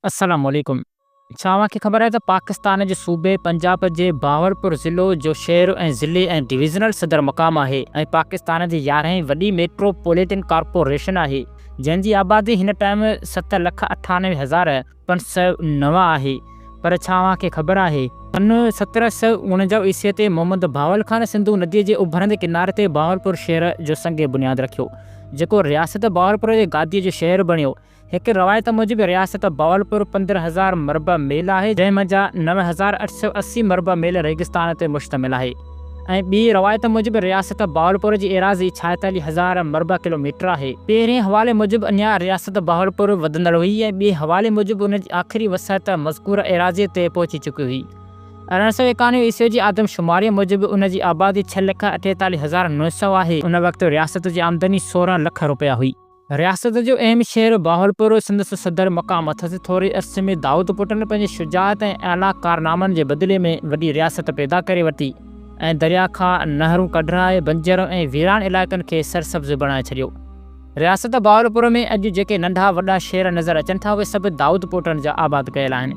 السلام عليڪم ڇا اوهان کي خبر آهي ته پاڪستان جي صوبي پنجاب جي بهاولپور ضلعو جو شهر ۽ ضلعي ۽ ڊويزنل صدر مقام آهي ۽ پاڪستان جي يارهين وڏي ميٽرو پوليٽن ڪارپوريشن آهي جنهن جي آبادي هن ٽائيم ست لک اٺانوي هزار پنج سؤ نو آهي پر ڇا اوهان کي خبر آهي سن سترهن سؤ اڻنجاهه عيسوي تي محمد بهاول خان سنڌو ندي جي اڀرندي ڪناري تي بهاولپور شهر جو سنگ بنياد رکيو جيڪو رياست بهاولپور جي گادي جو شهر بڻيو. هڪ روايت موجب رياست بهاولپور پندرهن هزار مربع ميل آهي، جنهن مان جا نو هزار اٺ سؤ اسي مربع ميل ريگستان تي مشتمل آهي ۽ ٻي روايت موجب رياست بهاولپور جي ايراضي ڇائيتاليهه هزار مربع ڪلو ميٽر آهي. پهرين حوالي موجب اڃا رياست بهاولپور وڌندڙ هئي ۽ ٻي حوالي موجب ان جي آخري وسعت مذڪوره ايراضيء تي پهچي چڪي هئي. ارڙهن سؤ ايڪانوي عيسوي جي آدم شماريء موجب ان جي آبادي ڇهه لک اٺيتاليهه هزار نو سؤ آهي. ان وقت رياست جي آمدني سورهن لک روپيا هئي. رياست جو اهم شهر بهاولپور سندس صدر مقام اٿس. ٿوري عرصي ۾ دائود پٽن پنهنجي شجاعت ۽ اعليٰ ڪارنامن جي بدلي ۾ وڏي رياست پيدا ڪري ورتي ۽ درياء کان نهرون ڪڍرائي بنجر ۽ ويران علائقن کي سرسبز بڻائي ڇڏيو. رياست بهاولپور ۾ اڄ جيڪي ننڍا وڏا شهر نظر اچن ٿا اهي سڀ دائود پوٽن جا آباد ڪيل آهن.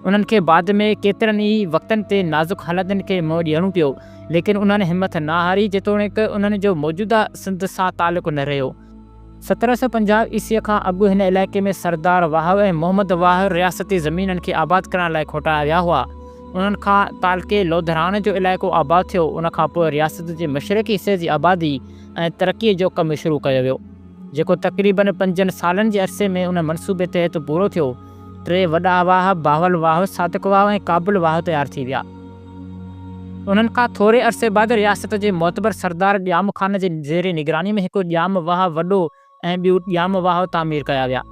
انهن کي بعد ۾ ڪيترن ئي وقتن تي نازڪ حالتن کي منهن ڏيڻو پيو ليڪن انهن همٿ نه هاري جيتوڻيڪ انهن جو موجوده سنڌ سان تعلق نه رهيو. سترهن سؤ پنجاهه عيسويء کان اڳ هن علائقي ۾ سردار واهه ۽ محمد واهه رياستي زمينن کي آباد ڪرڻ لاء کوٽايا ويا هئا. انهن کان تعلقي لوڌراڻ جو علائقو آباد ٿيو. ان کان پوء رياست جي مشرقي حصي جي آبادي ۽ ترقيء جو ڪم شروع ڪيو ويو، جيڪو تقريباً پنجن سالن جي عرصي ۾ ان منصوبي تحت پورو ٿيو. ٽي وڏا واهه، باهول واهه، صادق واهه ۽ ڪابل واهه تيار ٿي ويا. انهن کان ٿوري عرصي بعد رياست جي معتبر سردار ڄام خان جي زير نگراني ۾ هڪ ڄام واهه وڏو ۽ ٻيو ڄام واهه تعمير ڪيا ويا.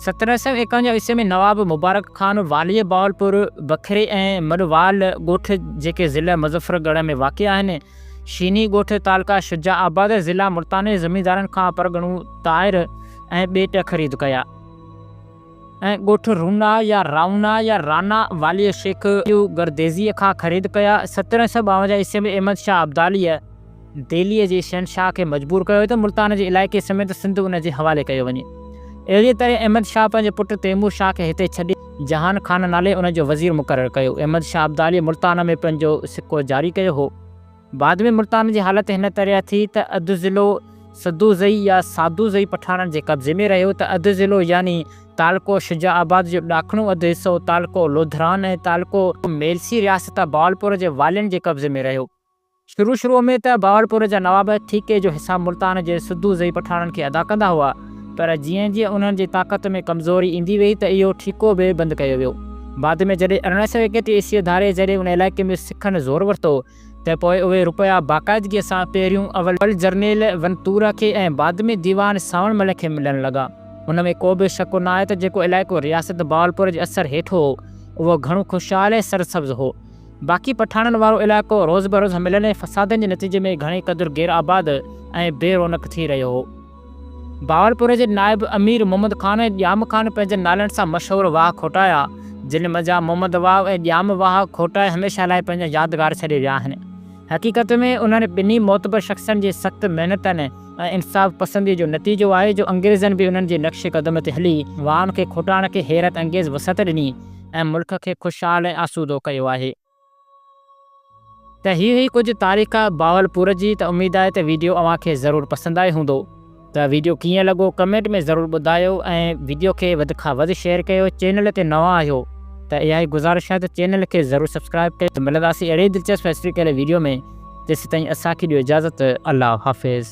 سترهن سؤ ايڪاونجاهه عيسوي ۾ نواب مبارڪ خان واليء بهاولپور، بکري ۽ مڏوال ڳوٺ جيڪي ضلع مظفر ڳڙهه ۾ واقع آهن، شيني ڳوٺ تعلقه شجاع آباد ضلع ملتان زميندارن کان پرڳڻو طائر ۽ ٻيٽ خريد ڪيا. ۽ ڳوٺ رونا يا رائونا يا رانا واليء شيخ گرديزيء کان خريد ڪيا. سترهن سؤ ٻاونجاهه عيسوي ۾ احمد شاهه ابداليء دهليء جي شهنشاهه کي مجبور ڪيو ته ملتان جي علائقي سميت سنڌ ان جي حوالي ڪيو وڃي. اهڙيء طرح احمد شاهه پنهنجي پٽ تيمور شاهه کي هتي ڇڏي، جهان خان نالي ان جو وزير مقرر ڪيو. احمد شاهه ابداليء ملتان ۾ پنهنجو سڪو جاري ڪيو هو. بعد ۾ ملتان جي حالت هن طرح ٿي ته اڌ ضلعو سدوزئي يا سادوزئي پٺاڻن جي قبضي ۾ رهيو ته اڌ ضلعو يعني تعلقو شجاع آباد جو ڏاکڻو اڌ حصو تعلقو لوڌران ۽ تعلقو ميلسي رياست بهاولپور جي والين جي قبضي ۾ رهيو. شروع شروع ۾ ته بهاولپور جا نواب ٺيڪي جو حساب ملتان جي سدوزئي پٺاڻن کي ادا ڪندا هئا. پر جيئن جيئن انهن جي طاقت ۾ ڪمزوري ايندي ويئي ته اهو ٺيڪو به بند ڪيو ويو. بعد ۾ جڏهن ارڙهن سؤ ايڪٽيهه عيسوي ڌاري جڏهن ان علائقي ۾ سکن زور ورتو ته پوء اهي رپيا باقاعدگيء سان پهريون اول جرنيل ونتورا کي ۽ بعد ۾ ديوان سانوڻ مل کي ملڻ لڳا. ان ۾ ڪو به شڪ ناهي ته جيڪو علائقو رياست بهاولپور جي اثر هيٺ هو، اهو گهڻو خوشحال ۽ سرسبز هو. باقي پٺاڻن وارو علائقو روز بروز حملن ۽ فسادن جي نتيجي ۾ گهڻي قدر غير آباد ۽ بي رونق ٿي رهيو هو. بهاولپور جي نائب امير محمد خان ۽ ڄام خان پنهنجن نالن سان مشهور واهه کوٽايا، جن منجهان محمد واهه ۽ ڄام واهه کوٽائي هميشه لاء پنهنجا يادگار ڇڏي ويا آهن. حقيقت ۾ انهن ٻنهي معتبر شخصن جي سخت محنتن ۽ انصاف پسنديء جو نتيجو آهي جو انگريزن به انهن جي نقش قدم تي هلي واهن کي کوٽائڻ کي حيرت انگيز وسعت ڏني ۽ ملڪ کي خوشحال ۽ آسودو ڪيو آهي. ته هي هئي ڪجهه تاريخ بهاولپور جي ته اميد آهي ته ويڊيو اوهان کي ضرور پسند آئي هوندو ته ويڊيو ڪيئن لڳو ڪمينٽ ۾ ضرور ٻڌايو ۽ ويڊيو کي وڌ کان وڌ شيئر ڪيو چينل تي نوان آهيو ته اها ئي گذارش آهي ته چينل کي ضرور سبسڪرائيب ڪيو ملنداسين اهڙي ئي دلچسپ هسٽريڪل ويڊيو ۾ تيستائين اسان کي ڏيو اجازت الله حافظ.